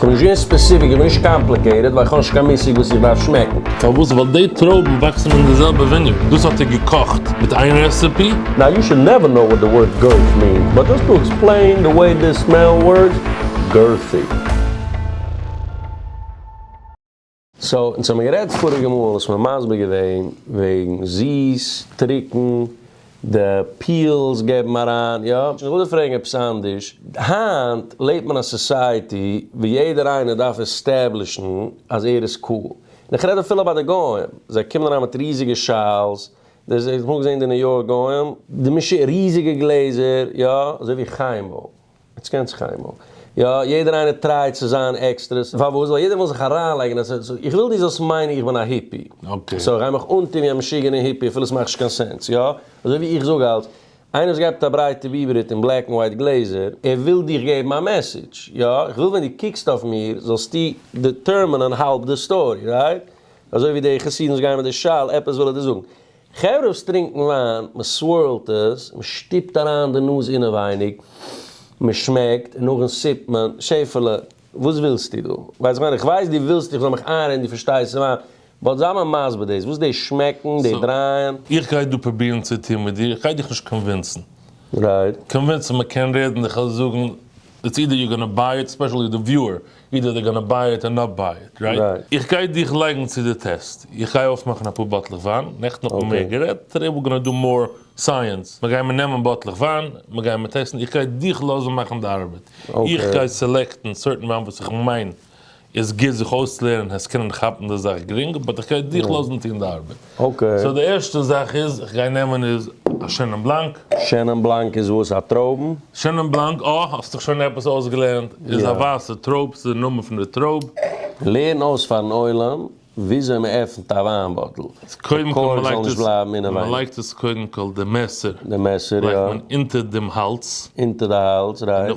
פרוז'ין ספעסיפיק איז נישט קאמפליקעיטעד ווייל כ'האב נישט קיין מושג וואס איך דארף שמעקן. פארוואס? ווייל די טרויבן וואקסן אין די זעלבע וויניארד, דאס האט ער געקאכט מיט איין רעסעפי? נאו יו שוד נעווער נאו וואט די ווארד גארט מינס באט דזשאסט טו עקספלעין די וועי די סמעל ווארקס, גארטי. סאו, אונז האמיר גערעדט פאריגע מאל, האסט מיר מסביר געווען וועגן זיס, טרוקן, די פיעלס געבן אריין, יא? איך וויל דיר פרעגן עפעס אנדערש, היינט לעבט מען א סאסייעטי ווי יעדער איינער דארף עסטעבלישן אז ער איז קול, און איך רעד אפילו ביי די גוים, זיי קומען אריין מיט ריזיגע שאלס, די האסט אמאל געזען די ניו יארק גוים? די משוגע ריזיגע גלעזער, יא? אזוי ווי חיים'ל. עטס קענט זיך איינמאל. יא, יעדער איינער טרייט צו זיין עקסטרע. פארוואס? ווייל יעדער וויל זיך אריינלייגן אז ער. איך וויל דו זאלסט מיינען איך בין א היפי. אקעי. סאו כ'גיי מיך אנטון ווי א משוגענע היפי אפילו עס מאכט נישט קיין סענס. יא? אזוי ווי איך זאג אלץ, איינער וואס גייט מיט א ברייטע וויבעריט און בלעק ענד ווייט גלעזער, ער וויל דיך געבן א מעסעדזש. יא? איך וויל ווען דו קוקסט אויף מיר זאלסטו דעטערמינען האלב די סטארי. רייט? אזוי ווי די חסידים וואס גייען מיט די שאל, עפעס וויל ער דיר זאגן. חבר'ס טרינקן וויין, מען סווערלט עס, מען שטופט אריין די נאז אינעווייניג, מען שמעקט, און נאכדעם סופט מען. שעפעלע, וואס ווילסטו דא? ווייסט איך מיין, איך ווייס דו ווילסט איך זאל מיך איינרעדן דו פארשטייסט אין וויין, באט זיי מיר מסביר דאס, וואס דאס שמעקן, דאס דרייען. איך גיי דא פרובירן צו טון מיט דיר, איך גיי דיך נישט קאנווינסן. רייט. קאנווינסן, מען קען רעדן, איך וועל זאגן, איטס אידער יו גאנא ביי איט, ספעשעלי די וויוער, אידער דער גאנא ביי איט אר נאט ביי איט, רייט? איך גיי דיך לייגן צו די טעסט, איך גיי אויפמאכן אפאר באטלעך וויין, נעכטן האט מען מער גערעדט, טודעי ווער גאנא דא מאר סייענס, מיר גיימער נעמען באטלעך וויין, מיר גיימער טעסטן, איך גיי דיך לאזן מאכן די ארבעט, איך גיי סעלעקטן סערטען וויין וואס איך מיין איז גוט זיך אויסצולערנען העסט קענען כאפן די זאך גרינג, באט איך גיי דיך לאזן טון די ארבעט. סאו די ערשטע זאך איז איך גיי נעמען איז א שענען בלאנק. שענען בלאנק איז וואס? א טרויבן? שענען בלאנק אה האסט דיך שוין עפעס אויסגעלערנט, איז א ווייסע טרויב, ס'איז די נאמען פון די טרויב. לערן אויס פארן עולם וויאזוי מען עפנט א וויין באטל, די קארק זאל נישט בלייבן אינעווייניג. מ'לייגט עס קודם כל די מעסער, לייגט מען אונטער דעם האלדז. אונטער די האלדז, רייט.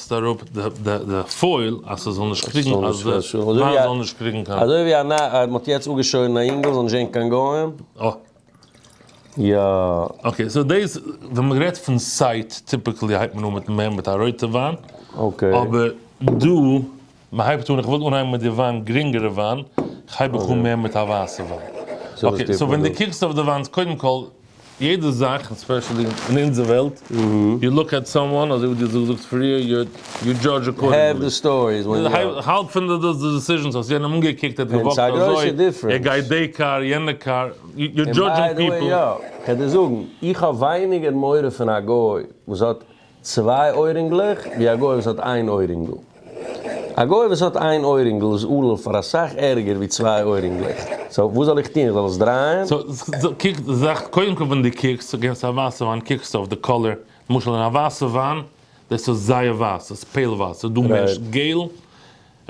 עסט אראפ די פויל אז ס'זאל נישט קריגן אז די וויין זאל נישט קריגן קיין. אזוי ווי אז מ'האט יעצט אפגעשוירן א אינגל זאל נישט זען קיין גוים. אה. יא. אקעי סאו דאס ווען מ'רעדט פון סייט טיפיקלי הייבט מען אן מיט מער מיט א רויטע וויין. אקעי. אבער דא. מען הייבט אן, איך וויל אנהייבן מיט די וויין, גרינגערע וויין, איך הייב איך אן מער מיט א ווייסע וויין. אקעי, סאו ווען די קוקסט אויף די וויינס, קודם כל, יעדע זאך, און ספעשעלי אין אונזער וועלט, יו לוק עט סאמוואן, אזוי ווי די זאגסט פריער, יו דזשאדזש אקארדינגלי. האלב פון די דעסיזשענס, האסט יענעם אנגעקוקט, ער האט געוואקט אזוי, ער גייט די קאר, יענע קאר, יו דזשאדזשינג פיפל. כדי זאגן, איך האב ווייניגער מורא פון א גוי וואס האט צוויי אוירינגלעך, ווי א גוי וואס האט איין אוירינגל. א גוי וואס האט איין אוירינגל איז עלול פאר אסאך ערגער ווי צוויי אוירינגלעך. סאו וואס זאל איך טון? איך זאל עס דרייען? סאו קוק די זאך, קודם כל ווען די קוקסט אגענסט א ווייסע וויין קוקסטו אויף די קאלער, למשל אין א ווייסע וויין דאס איז זייער ווייס, עס איז פעיל ווייס, ס'איז דא מער געל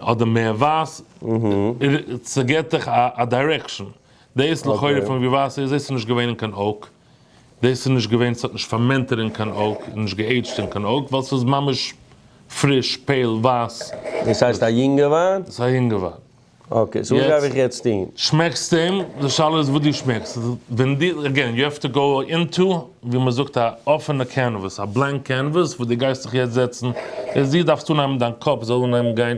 אדער מער ווייס, ס'געט דיך א דיירעקשאן, דאס לכאורה פון ווי ווייס ער איז, דאס איז נישט געווען אין קיין אוק. דאס איז נישט געווען, ס'האט נישט פארמענטעד אין קיין אויג, און נישט גע'עידזשט אין קיין אויג, ווייל ס'איז ממש פריש, פעיל ווייס. דאס הייסט א יונגע וויין? דאס איז א יונגע וויין. אקעי, סאו וואס דארף איך יעצט טון? שמעקסט אים, די שאלה איז וואס דו שמעקסט, ווען די, אגעין, יו העוו טו גאו אינטו, ווי מען זאגט, א אפענע קענוואס, א בלענק קענוואס, וואו דו גייסט זיך יעצט זעצן, איז דו דארפסט אנהייבן, דיין קאפ זאל אנהייבן גיין.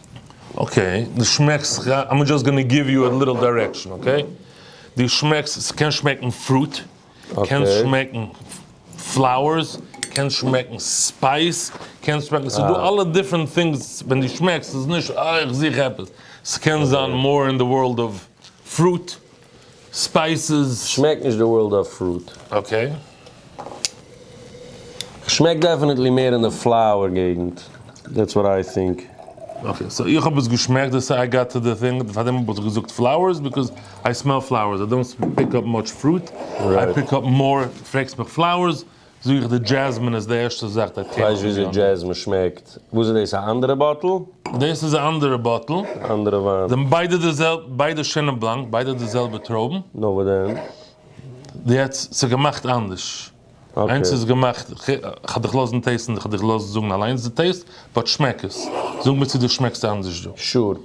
אקעי, דו שמעקסט, איך בין דזשאסט גאנא גיוו יו א ליטעל דירעקשאן, אקעי? דו שמעקסט, ס'קען שמעקן פרוט, קען שמעקן פלאוערס, קען שמעקן ספייס, קען שמעקן, ס'איז דא אלע דיפרענט טינגס ווען דו שמעקסט, ס'איז נישט אה איך זוך עפעס, ס'קען זיין מאר אין די ווארלד אוו פרוט. ספייסעס. שמעקט נישט די ווילד אויף פרוט. אקעי. כ'שמעק דעפענעטלי מער אין די פלאוער געגנט, דעטס וואט איי טינק. אקעי, סאו איך האב עס געשמעקט, דעטס האו איי גאט טו די טינג, פארדעם האב איך דאך געזאגט פלאוערס, ביזקאזס איי סמעל פלאוערס, איי דאנט פיק אפ מאטש פרוט, איי פיק אפ מאר, פרעגסט מיך פלאוערס, זוך די דזשעזמין איז די ערשטע זאך דער קען איך ווייסט וויאזוי דזשעזמין שמעקט? וואס איז דאס א אנדערע באטל? דאס איז א אנדערע באטל. אנדערע וויין. זענען ביידע די זעלבע, ביידע שענען בלאנק, ביידע די זעלבע טרויבן. נאר וואס דען? די עטס ס'איז געמאכט אנדערש. איינס איז געמאכט, כ'על דיך לאזן טעיסטן, כ'על דיך לאזן זאגן אליינס די טעיסט, באט שמעק עס. זאג מיר צו די שמעקסט אנדערש דא. שור.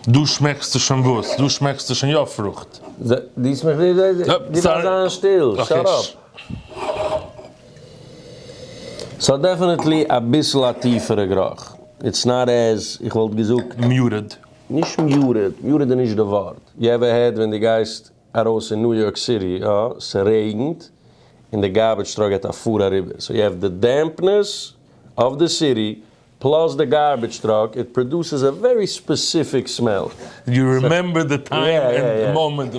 דא שמעקסטו שוין וואס? דא שמעקסטו שוין יא פרוכט. דו שמעקסט נישט דא, דו דארפסט זיין שטיל, שאט אפ. ס'האט דעפענעטלי אביסל א טיפערע גראך, איטס נאט עז, איך וואלט געזאגט. מיורד. נישט מיורד, מיורד איז נישט די ווארט. יו עווער הערד ווען דו גייסט ארויס אין ניו יארק סיטי, אה, ס'רעגנט, און די גארבעדזש טראק גייט אפאר אריבער, סאו יו העוו די דעמפנעס אוו די סיטי, פלאס די גארביטש טראק איט פראדוסעס א ווערי ספעסיפיק סמעל. יו רימעמבער די טיים ענד די מאמענט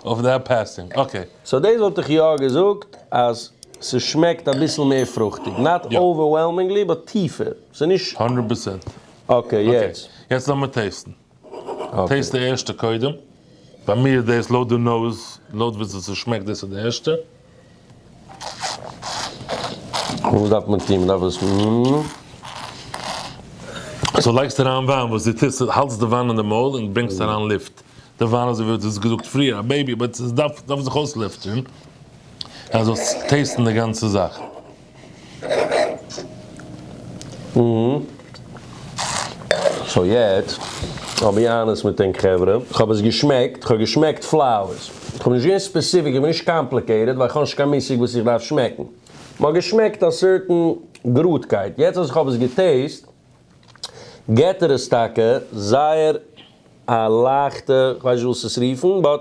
אוו דער פעסינג? אקעי. סאו דאס וואלט איך יא געזאגט אז ס'שמעקט אביסל מער פרוכטיג, נאט אווערוועלמינגלי באט טיפער, ס'נישט. הונדרעט פראצענט. אקעי יעצט. אקעי יעצט לאמיר טעסטן. אט דאס די ערשטע קודם, ביי מיר איז דאס לויט די נאז, לויט ווי ס'האט צושמעקט דאס איז די ערשטע. וואס דארף מען טון? מ'דארף עס םםם. סאו לייגסט אריין וויין וואס דו טוסט איז האלטסט די וויין אין די מויל און ברענגסט אריין לופט, די וויין אזוי ווי דו האסט געזאגט פריער א בעיבי באט עס דארף זיך אויסלופטערן אז זאלסט טעיסטן די גאנצע זאך. סאו יעצט אל בי אנעסט מיט ענק חברה, איך האב עס געשמעקט, איך האב געשמעקט פלאוערס, איך בין נישט געווען ספעסיפיק, איך בין נישט קאמפליקעיטעד ווייל איך האב נישט קיין מושג וואס איך דארף שמעקן, מ'האט געשמעקט א סערטען גראדקייט, יעצט אז איך האב עס געטעיסט געט ער עס טאקע זייער א לייכטע, כ'ווייס נישט ווי זאלסט עס רופן, באט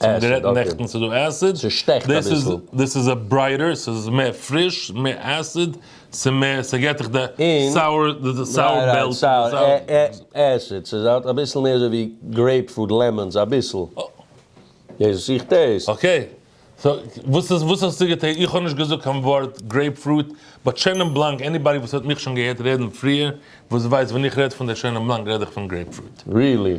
האבן גערעדט נעכטן ס'איז דא עסיד, דאס איז א ברייטער, ס'איז מער פריש, מער עסיד, ס'געט דיך די סאוער בעלט, סאוער עסיד, ס'איז האט אביסל מער אזוי ווי גרעיפ פוד לעמאנס אביסל, דאס וואס איך טעיסט. אקעי, וואס האסטו געטעיסט? איך האב נישט געזאגט קיין ווארט גרעיפ פרוט, באט שענען בלאנק, עניבאדי וואס האט מיך שוין געהערט רעדן פריער, וואס ווייסט ווען איך רעד פון די שענען בלאנק רעד איך פון גרעיפ פרוט. ריעלי?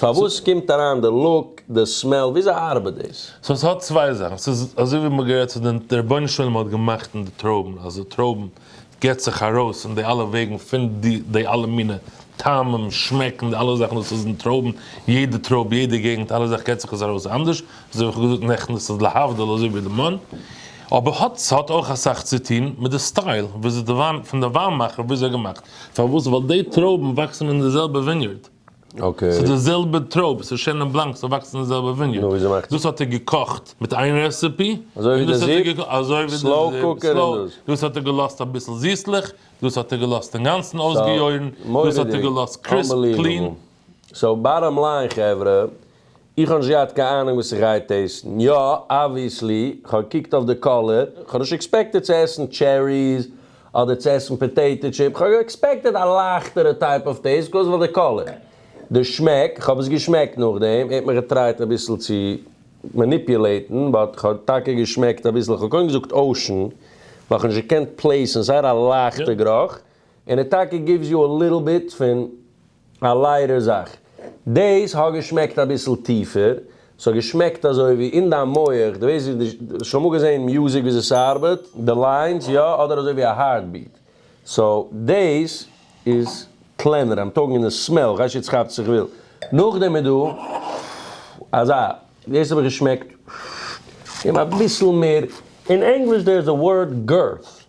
פארוואס קומט אריין די לוק, די סמעל, וויאזוי ארבעט דאס? סאו ס'האט צוויי זאכן, ס'איז אזוי ווי מ'האט גערעדט פון די רבונו של עולם האט געמאכט אין די טרויבן, אז די טרויבן גיבט זיך ארויס אין די אלע וועגן פון די די אלע מינע טעמים, שמעקן, די אלע זאכן וואס איז אין טרויבן, יעדע טרויב, יעדע געגנט, אלע זאכן גיבט זיך עס ארויס אנדערש, אזוי ווי כ'האב געזאגט נעכטן עס איז להבדיל אזוי ווי די מויל, אבער האט ס'האט אויך אסאך צו טון מיט די סטייל וויאזוי די וויין פון די וויין מאכער וויאזוי ער האט געמאכט, פארוואס ווייל די טרויבן וואקסן אין די זעלבע ווינגערד. ס'איז די זעלבע טרויב, ס'איז שענען בלאנק, ס'זאל וואקסן אין די זעלבע וויניארד. דאס האט ער געקאכט מיט איין רעסעפי, און דאס האט ער געקאכט אזוי ווי די סלאו, דאס האט ער געלאזט אביסל זיסליך, דאס האט ער געלאזט אינגאנצן אויסגעיורן, דאס האט ער געלאזט קריספ, קלין. סאו באטאם ליין חברה, איך האב נישט געהאט קיין אהנונג וואס איך גיי טעיסטן, יא אבוויעסלי כ'האב געקוקט אויף די קאלער, כ'האב נישט עקספעקטעד צו עסן טשעריס אדער צו עסן פאטעיטא טשיפ, כ'האב עקספעקטעד א לייכטערע טייפ אוו טעיסט בקאוז פאר די קאלער. די שמעק, כ'האב עס געשמעקט נאכדעם, ער האט מיך געטרייט אביסל צו מעניפיולעיטן באט כ'האב טאקע געשמעקט אביסל, כ'האב קודם געזאגט אושען ווייל כ'האב נישט געקענט פלעיסן, זייער א לייכטע גערוך, און ער טאקע גיווס יו א ליטל ביט פון א לייערע זאך. דעיס האט געשמעקט אביסל טיפער, ס'האט געשמעקט אזוי ווי אין דיין מח, די וועסט ווי, האסט שוין אמאל געזען מיוזיק וויאזוי ס'ארבעט, די ליינס, יא? אדער אזוי ווי א הארט ביעט. סאו, דעיס איז קלענער, איים טאלקינג אין די סמעל, כ'ווייס נישט צו כאפסט וואס איך וויל. נאכדעם איז דא אזא, דעיס האב איך געשמעקט, און אביסל מער, אין ענגליש דעירס א ווארד girth.